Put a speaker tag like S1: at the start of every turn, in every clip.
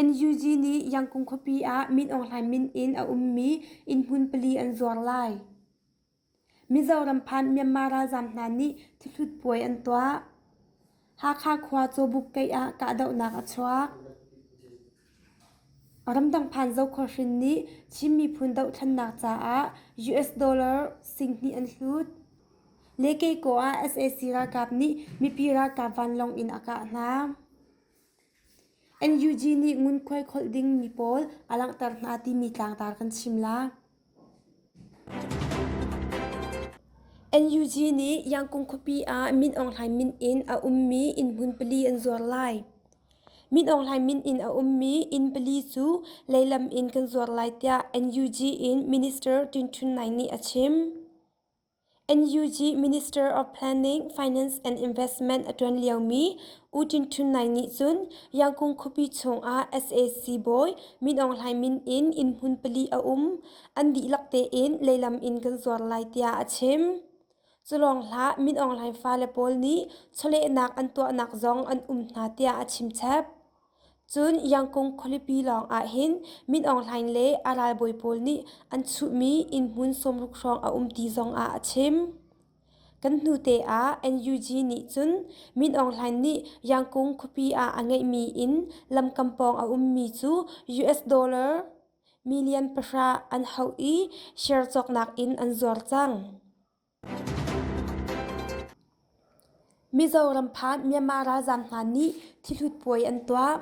S1: NUG nih Yangkung khuapi ah Min Aung Hlaing min in a ummi innhmun pali an zuar lai. Mizoram phan Myanmar ralzaam hna nih thihlut puai an tuah. Hakha khua Cawbuk keih ah kahdohnak a chuak. Ramdang phan Zokhawr hrin nih Chin miphun dohthlennak caah US dollar singhnih an hlut. Lekeko ah sac ralkap nih mipi ralkap vanlawng in a kah hna. NUG nih ngunkhuai kholh ding mi pawl a langhter hna timi tlangtar kan chim la. NUG nih Yangkung khuapi ah Min Aung Hlaing min in a ummi inn hmun pali an zuar lai. Min Aung Hlaing min in a ummi inn pali cu leilam in kan zuar lai tiah NUG in Minister Tun Htun Ngai nih a chim. NUG Minister of Planning, Finance and Investment a ṭuan liomi U Tin Htun Nai nih cun Yangkung khuapi chungah sac bawi Min Aung Hlaing min in innhmun pali a um an dihlak tein leilam in kan zuar lai tiah a chim. Culawng hlah Min Aung Hlaing fale pawl nih chawlehnak an tuahnak zong an um hna tiah a chimchap. Cun Yangkung khualipi lawngah hin Min Aung Hlaing le a ralbawi pawl nih an chuhmi innhmun sawmruk hrawng a um ti zongah a chim. Kan hnute ah NUG nih cun Min Aung Hlaing nih Yangkung khuapi ah a ngeihmi in lamkam pawng a ummi cu US dollar million pahra an hauh i share cawknak in an zuar cang. Mizoram phan Myanmar ralzaam hna nih thihlut puai an tuah.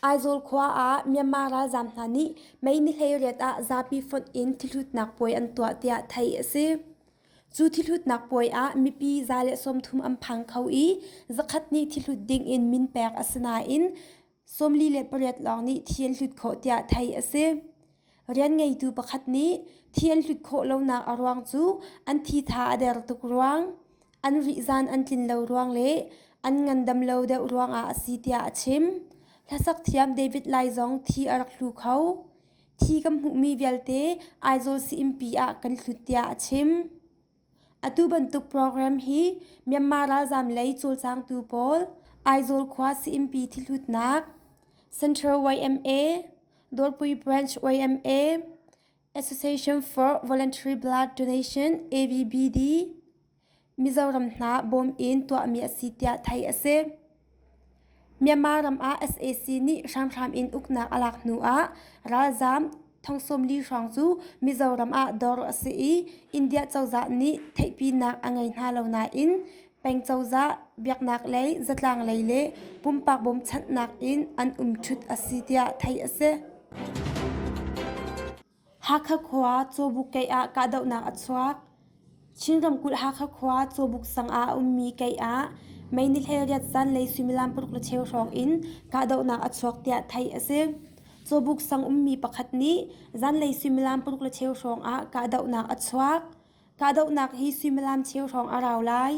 S1: Aizawl khua ah Myanmar ralzaam hna nih May ni hleiriat ah zapi fonh in thihhlutnak puai an tuah tiah theih a si. Cu thihhlutnak puai ah mipi za le sawmthum an phang kho i zakhat nih thihlut ding in min pek a si nain sawmli le pariat lawng nih thi an hlut khawh tiah theih a si. rian ngeitu pakhat nih thi an hlut khawh lonak a ruang cu an thitha a der tuk ruang an rihzan an tlin lo ruang le an ngandam lo deuh ruangah a si tiah a chim hlasak thiam david lai zong thi a rak hlu kho thi kan hmuhmi vialte aizawl sii-innpi ah kan hlut tiah a chim Atu bantuk program hi Myanmar ralzaam lei cawlcangtu pawl Aizawl khua sayimpi thihlutnak, Central YMA, Dawrpui Branch YMA, Association for Voluntary Blood Donation AVBD, Mizoram hna bawm in tuahmi a si tiah theih a si. Myanmar ram ah sac nih hramhram in uknak a lak hnuah ralzaam thongsawmli hrawng cu Mizoram ah dawr a si i India cozah nih theihpinak a ngei hna lo nain peng cozah biaknaklei zatlanglei le pumpak bawmchanhnak in an um ṭhut a si tiah theih a si. Hakha khua Cawbuk keih ah kahdohnak a chuak. Chin ramkulh Hakha khua Cawbuk sang ah a ummi keih ah mei nihhlei riat zanlei suimilam paruk le cheu hrawng in kahdohnak a chuak tiah theih a si. Cawbuk sang ummi pakhat nih zanlei suimilam paruk le cheu hrawng ah kahdohnak a chuak. Kahdohnak hi suimilam cheu hrawng a rau lai.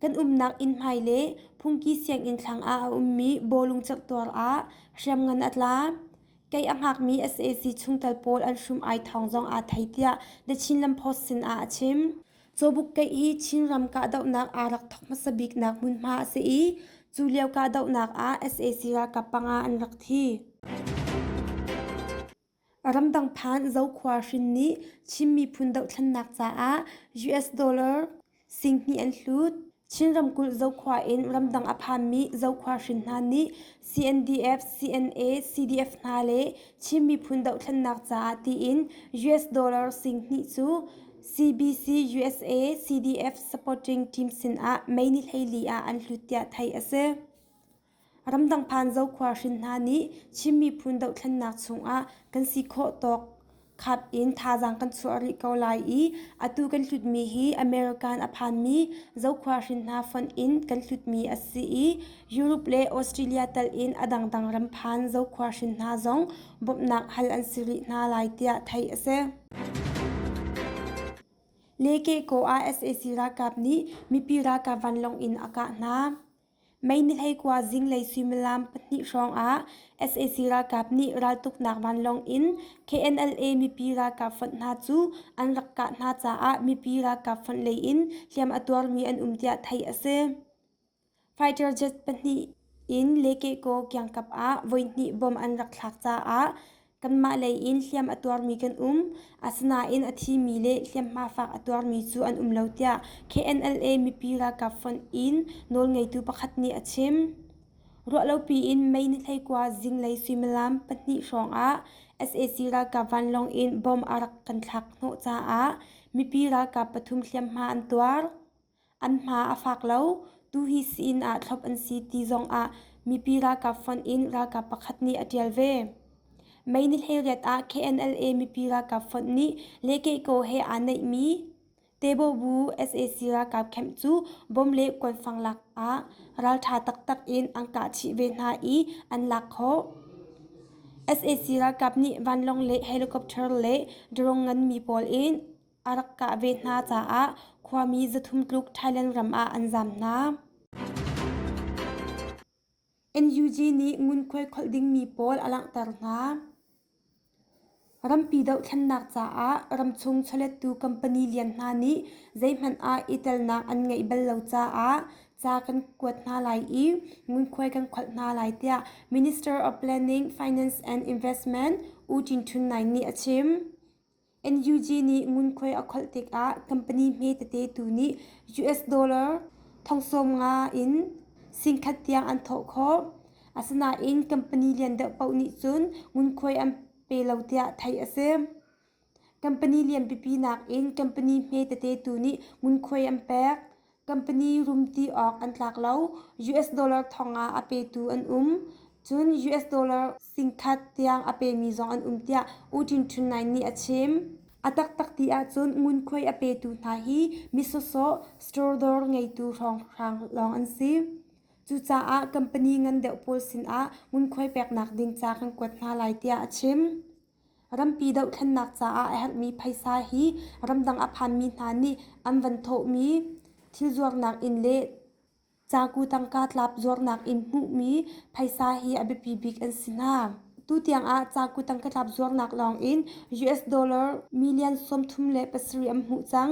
S1: Kan umnak inn hmai le phungki sianginn thlang ah a ummi bawlung cerhtuar ah hriamngan a tla. Kei a hngakmi sac chungtel pawl an hrum ai thawng zong aa thei tiah The Chinland Post sinah a chim. Cawbuk kei i Chinram kahdohnak aa rak thawk hmasa biknak hmunhma a si i cu lio kahdohnak ah sac ralkap panga an rak thi. Ramdang phan Zokhua hrin nih Chin miphun dohthlennak caah US dollar Singhnih an hlut. Chin ramkulh Zokhua in ramdang a phanmi Zokhua hrin hna nih CNDF, CNA, CDF hna le Chin miphun dohthlennak caah tiin US dollar singhnih cu CBC, USA, CDF supporting team sinah May ni hleili ah an hlut tiah theih a si. Ramdang phan zokhua hrin hna nih Chin miphun dohthlennak chungah kan si khawh tawk khat in thazaang kan chuah rih ko lai i atu kan hlutmi hi American a phanmi zokhua hrin hna fonh in kan hlutmi a si i Europe le Australia tal in a dangdang ram phan zokhua hrin hna zong bawmhnak hal an si rih hna lai tiah theih a si. Leke Ko ah sac ralkap nih mipi ralkap vanlawng in a kah hna. Mei nihhlei kua zinglei suimilam pahnih hrawngah sac ralkap nih raltuknak vanlawng in KNLA mipi ralkap fonh hna cu an rak kah hna caah mipi ralkap fonh lei in hliam a tuarmi an um tiah theih a si. Fighter jet pahnih in Lekeko kiangkap ah voihnih bomb an rak thlak caah Kanmah lei in hliam a tuarmi kan um. Asinain a thimi le hliamhma fak a tuarmi cu an um lo tiah KNLA mipi ralkap font in nawlngeitu pakhat nih a chim. Ruahlopi in Mei ni hleikua zinglei suimilam pahnih hrawngah sac ralkap vanlawng in bom a rak kan thlak hnawh caah mipi ralkap pathum hliamhma an tuar. An hma a fak lo, tuhi siin ah thlop an si ti zongah mipi ralkap font in ralkap pakhat nih a ṭial ve. Mei ni hleriat ah KNLA mipi ralkap font nih le keikaw he aa neihmi Tebawbu sac ralkap camp cu bom le kuanfang lak ah ralṭha taktak in an kah chih ve hna i an lak khawh. sac ralkap nih vanlawng le helicopter le drone nganmi pawl in a rak kah ve hna caah khuami zathum tluk Thailand ram ah an zam hna. NUG nih ngunkhuai kholh dingmi pawl a langhter hna. Rampi dohthlennak caah ramchung chawlettu company lian hna nih zeihmanh ah i telnak an ngeih bal lo caah ca kan kuat hna lai i ngunkhuai kan kholh hna lai tiah Minister of Planning, Finance and Investment U Tin Htun Naing nih a chim. NUG nih ngunkhuai a kholh tikah company hme tete tu nih US dollar thongsawmnga in singkhat tiang an thawh khawh. Asinain company lian deuh paoh nih cun ngunkhuai an pe lo tiah theih a si. Company lianpipi nakin company hme tete tu nih ngunkhuai an pek. Company rumti awk an tlak lo. US dollar thongah a petu an um. Cun US dollar singkhat tiang a pemi zong an um tiah U Tin Htun Nai nih a chim. A taktak ti ahcun ngunkhuai a petu hna hi misawsawh store ngeitu hrawnghrang lawng an si. Cucaah company ngan deuh pawl sinah ngunkhuai peknak ding ca kan kuat hna lai tiah a chim. Rampi dohthlennak caah a herhmi phaisa hi ramdang a phanmi hna nih an van thawhmi thil zuarnak in le caku tangka tlap zuarnak in hmuhmi phaisa hi a biapi bik an si hna. Tutiang ah caku tangka tlap zuarnak lawng in US dollar million sawmthum le pasarih an hmuh cang.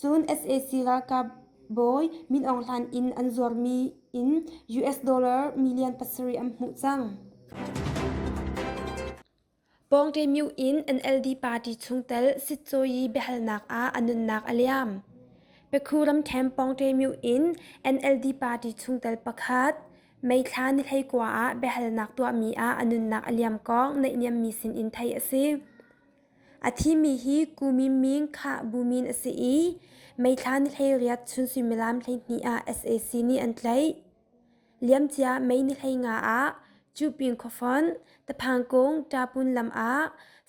S1: Cun sac ralkapbawi Min Aung Hlain in an zuarmi in US dollar million pasarih an hmuh cang. Pawngṭemyu in NLD party chungtel sitcawi biahalnak ah a nunnak a liam. Pekhu ramṭhem Pawngṭemyu in NLD party chungtel pakhat meithla nihhlei kua ah biahalnak tuahmi ah a nunnak a liam kong neihniammi sinin theih a si. A thimi hi Kumin ming khah bu min a si i meithla ni hleiriat chun suimilam hleihnih ah sac nih an tlaih. Liamcia May ni hlei nga ah Cupin khuafonh, Taphangkung Ṭapun lam ah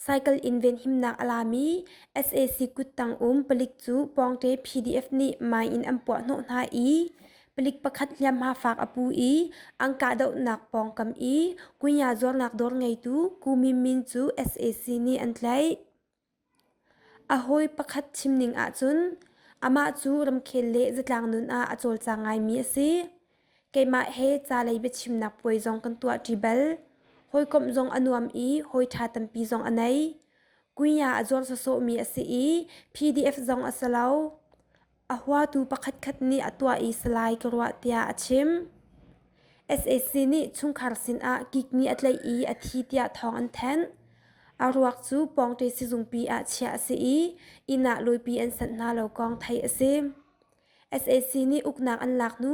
S1: cycle in venhimnak a lami sac kuttang um palik cu pawngṭe PDF nih mai in an puah hnawh hna i Palik pakhat hliamhma faak a pu i an kahdohnak pawngkam i kunya zuarnak dawr ngeitu Ku Min Min cu sac nih an tlaih. A hawi pakhat chimning ahcun amah cu ramkhel le zatlang nun ah a cawlcang ngaimi a si. Keimah he calei biachimnak puai zong kan tuahṭi bal. Hawikomh zong a nuam i hawi ṭha tampi zong a nei. Kunya a zuar sawsawhmi a si i PDF zong a si lo. A huatu pakhatkhat nih a tuah i salai ka ruah tiah a chim. SAC nih chungkhar sinah kikni a tlaih i a thi tiah thawng an thanh. A ruak cu pawngṭe sizungpi ah chiah a si i inn ah luipi an sanh hna lo kong theih a si. SAC nih uknak an lak hnu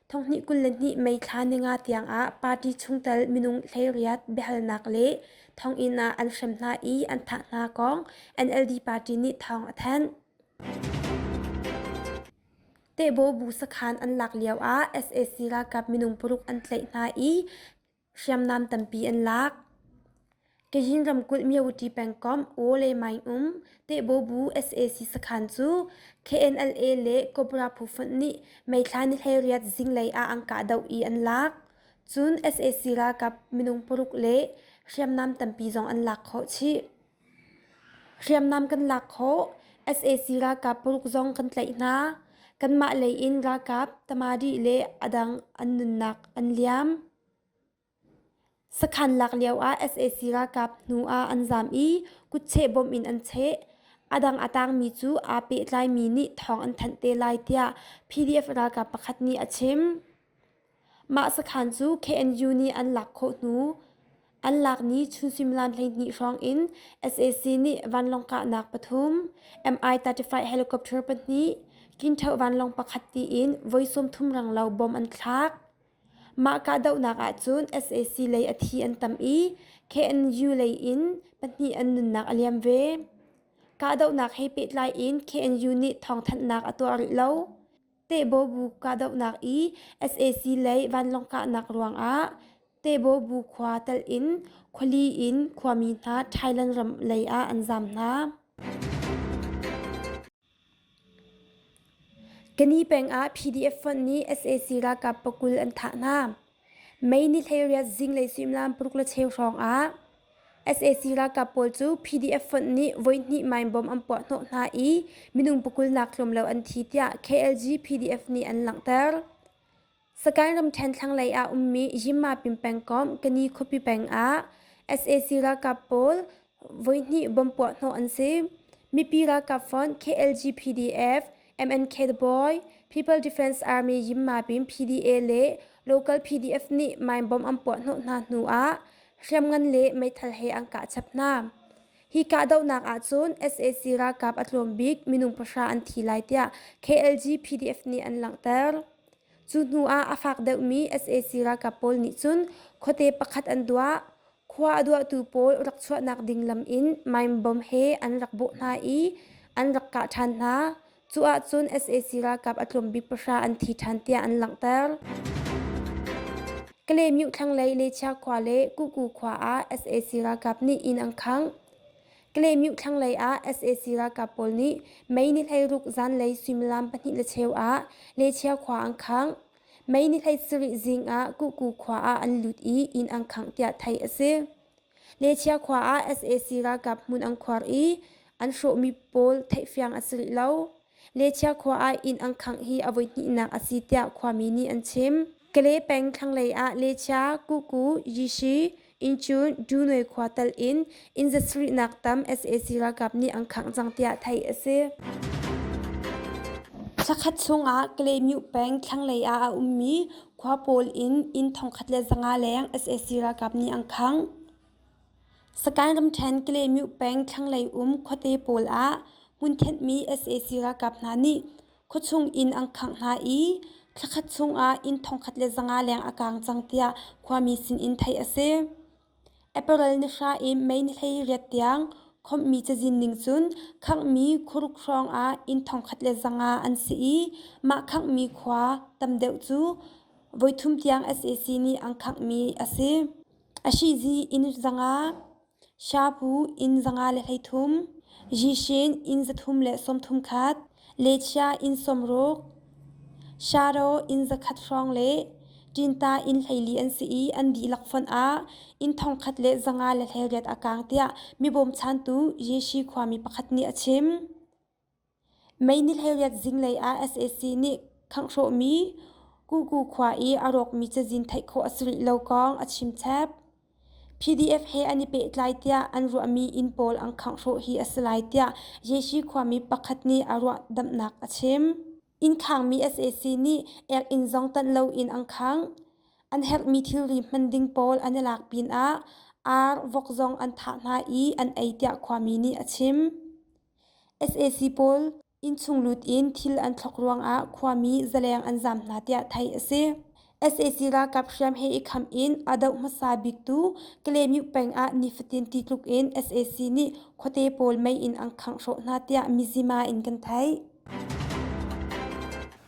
S1: thonghnih kul le hnih Mei thla ninga tiangah party chungtel minung hleiriat biahalnak le thonginn ah an hrem hna i an thah hna kong NLD party nih thawng a thanh. Tehbo bu sakhan an lak lioah sac ralkap minung paruk an tlaih hna i hriamnam tampi an lak. Kazin ramkulh Myavuti pengkomh Oo le Maing um Tehbo bu sac sakhan cu KNLA le Cobra phu fonh nih meithla nihleiriat zinglei ah an kahdoh i an lak. Cun sac ralkap minung paruk le hriamnam tampi zong an lak khawh chih. Hriamnam kan lak khawh. sac ralkap paruk zong kan tlaih hna. Kanmah lei in ralkap, tamadi le a dang an nunnak an liam. Sakhan lak lioah sac ralkap hnu ah an zaam i kutcheh bawmh in an cheh. A dang a tangmi cu aa pehtlaimi nih thawng an thanh te lai tiah PDF ralkap pakhat nih a chim. Mah sakhan cu KNU nih an lak khawh hnu, an lak ni chun suimilam hleihnih hrawng in sac nih vanlawng kahnak pathum, Mi-35 helicopter pahnih, Kinṭheuh vanlawng pakhat tiin voi sawmthum renglo bom an thlak. Mah kahdohnak ahcun sac lei a thi an tam i KNU lei in pahnih an nunnak a liam ve. Kahdohnak he pehtlai in KNU nih thawngthanhnak a tuah rih lo. Tehbawbu kahdohnak i sac lei vanlawng kahnak ruangah Tehbawbu khua telh in khuali in khuami hna Thailand ram lei ah an zaam hna. Keni peng ah PDF fonh nih sac ralkap pakul an thah hna. May ni hleiriat zinglei suimilam paruk le cheu hrawngah sac ralkap pawl cu PDF fonh nih voihnih mainbom an puah hnawh hna i minung pakulnak tlawmlo an thi tiah KLG PDF nih an langhter. Sagaing ramṭhen thlanglei ah ummi Yinma pingpeng komh Kani khuapi peng ah sac ralkap pawl voihnih bawm puahhnawh an si. Mipi ralkap fund KLG PDF, MNK The Boy, People Defense Army Yimma Pin PDA le local PDF nih mine bomb an puahhnawh hna hnu ah hriamngan le meithal he an kah chap hna. Hi kahdohnak ahcun sac ralkap a tlawm bik minung pahra an thi lai tiah KLG PDF nih an langhter. Cu hnu ah a fak deuhmi sac ralkap pawl nih cun khuate pakhat an duah. Khua a duahtu pawl rak chuahnak ding lam in maimbom he an rak bawh hna i an rak kah ṭhan hna. Cu ahcun sac ralkap a tlawm bik pahra an thi ṭhan tiah an langhter. Kalemyuh thlanglei Lechia khua le Kuku khua ah sac ralkap nih inn an khangh. Kalemyuh thlanglei ah sac ralkap pawl nih mei ni hleiruk zanlei suimilam pahnih le cheu ah Lechia khua an khangh. Mei ni hleisarih zing ah Kuku khua ah an lut i inn an khangh tiah theih a si. Lechia khua ah sac ralkap hmun an khuar i an hrawhmi pawl theihfiang a si rih lo. Lechia khua ah inn an khangh hi a voi hnihnak a si tiah khuami nih an chim. Kale peng thlanglei ah Lechia, Kuku, Yishi, Inn cu Dunois khua tal in inn zasarihnak tam sac ralkap nih an khangh cang tiah theih a si. Thakhat chungah Kalaymyo peng thlanglei ah a ummi khua pawl in inn thongkhat le zanga leng sac ralkap nih an khangh. Sakaing ramṭhen Kalaymyo peng thlanglei um khuate pawl ah hmun thenhmi sac ralkap hna nih Khuachung inn an khangh hna i thlakhat chungah inn thongkhat le zanga leng a kaang cang tiah khuami sinin theih a si. Apparel ni hra i mei ni hlei riat tiang khomhmi cazin ning cun khanghmi khuruk hrawngah inn thongkhat le zanga an si i mah khanghmi khua tam deuh cu voithum tiang sac nih an khangh mi a si. A shihzi inn zanga Shabu inn zanga le hleithum, zishin inn zathum le sawmthum khat, lechia inn sawmruk, sharo inn zakhat hrawng le ṭinta inn hleili an si i an dihlak fonh ah inn thongkhat le zanga le hleiriat a kang tiah mi bawmchantu Yeshi khuami pakhat nih a chim. Mei nihleiriat zinglei ah sac nih khanghrawhmi Kuku khua i a rawkmi cazin theih khawh a si rih lo kong a chimchep. PDF he an i pehtlai tiah an ruahmi inn pawl an khangh hi a si lai tiah Yeshi khuami pakhat nih a ruahdamhnak a chim. Inn khangmi sac nih ek inn zong tanh loin an khang. An herhmi thilri hman ding pawl an i lak pinah ar, vok zong an thah hna i an ei tiah khuami nih a chim. sac pawl innchunglut in thil an thlawk ruangah khuami zaleng an zaam hna tiah theih a si sac ralkap hriam he i khamh in a doh hmasa biktu kalaymyo peng ah nifatin ti tluk in sac nih khuate pawl mei in an khangh hrawh hna tiah mizima in kan theih